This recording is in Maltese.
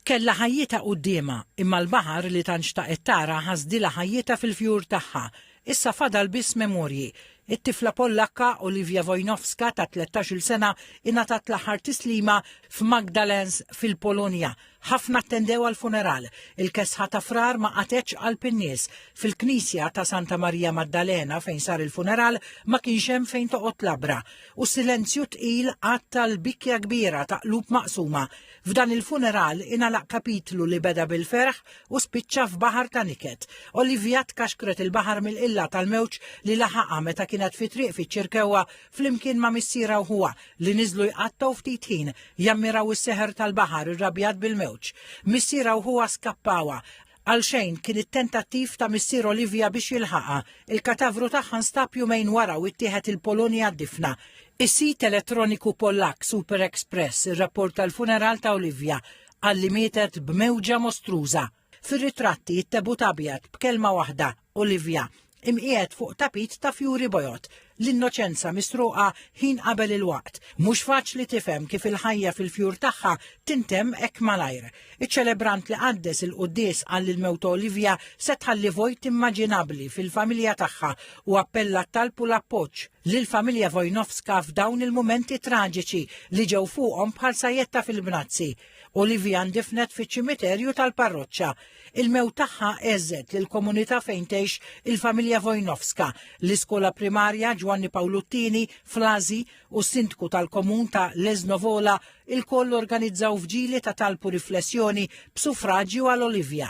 Kellha ħajjitha quddiemha, imma l-baħar li tant xtaqet tara ħasdilha ħajjitha fil-fjur tagħha. Issa fadal biss memorji. It-tifla Pollakka, Olivia Wojnowska ta' tlettax-il sena ingħatat l-aħħar tislima f'Magdalens fil-Polonja. Ħafna attendew għall-funeral. Il-kesħa ta' Frar ma qatgħetx qalb in-nies. Fil-knisja ta' Santa Marija Maddalena fejn sar il-funeral ma kienx hemm fejn toqgħod labra. U silenzju tqil għatta l-bikkja kbira ta' qlub maqsuma. F'dan il-funeral ingħalaq kapitlu li beda bil-ferħ u spiċċa f'baħar ta' niket. Olivia tkaxkret il-baħar mill-qilla tal-mewġ li laħaqha meta kienet fi triq fiċ-Ċirkewwa flimkien ma' missierha u ħuha li niżlu jqattgħu ftit ħin jammiraw is-seħer tal-baħar irrabjat bil-mewġ. Missierha u ħuha skappawha Għalxejn, kien it-tentattiv ta' missier Olivia biex jilħaqha. Il-katavru tagħha nstab jumejn wara u ttieħed il-Polonja għad-difna. Is-sit elettroniku Pollakk SuperExpress irrapporta l-funeral ta' Olivia. Qal li mietet b'mewġa mostruża. Fir-ritratti, it-tebut abjad, b'kelma waħda, Olivia, imqiegħed fuq tapit ta' fjuri bojod. L-innoċenza misruqa ħin qabel il-waqt. Mhux faċli tifhem kif il-ħajja fil-fjur tagħha tintemm hekk malajr. Iċ-ċelebrant li qaddes il-quddies qal li l-mewt ta' Olivia se tħalli vojt immaġinabbli fil-familja tagħha u appella t-talb u l-appoġġ lill-familja Wojnowska f'dawn il-mumenti traġiċi li ġew fuqhom bħal sajjetta fil-bnazzi. Olivia ndifnet fiċ-ċimiterju tal-parroċċa. Il-mewt tagħha għeżżet lill-komunità fejn tgħix il-familja Wojnowska, l-iskola primarja Ġwanni Pawlu t-Tieni f'Lażi u s-Sindku tal-Komun ta' Leszno Wola lkoll organizzaw vġili ta' talb u riflessjoni b'sufraġju għal Olivia.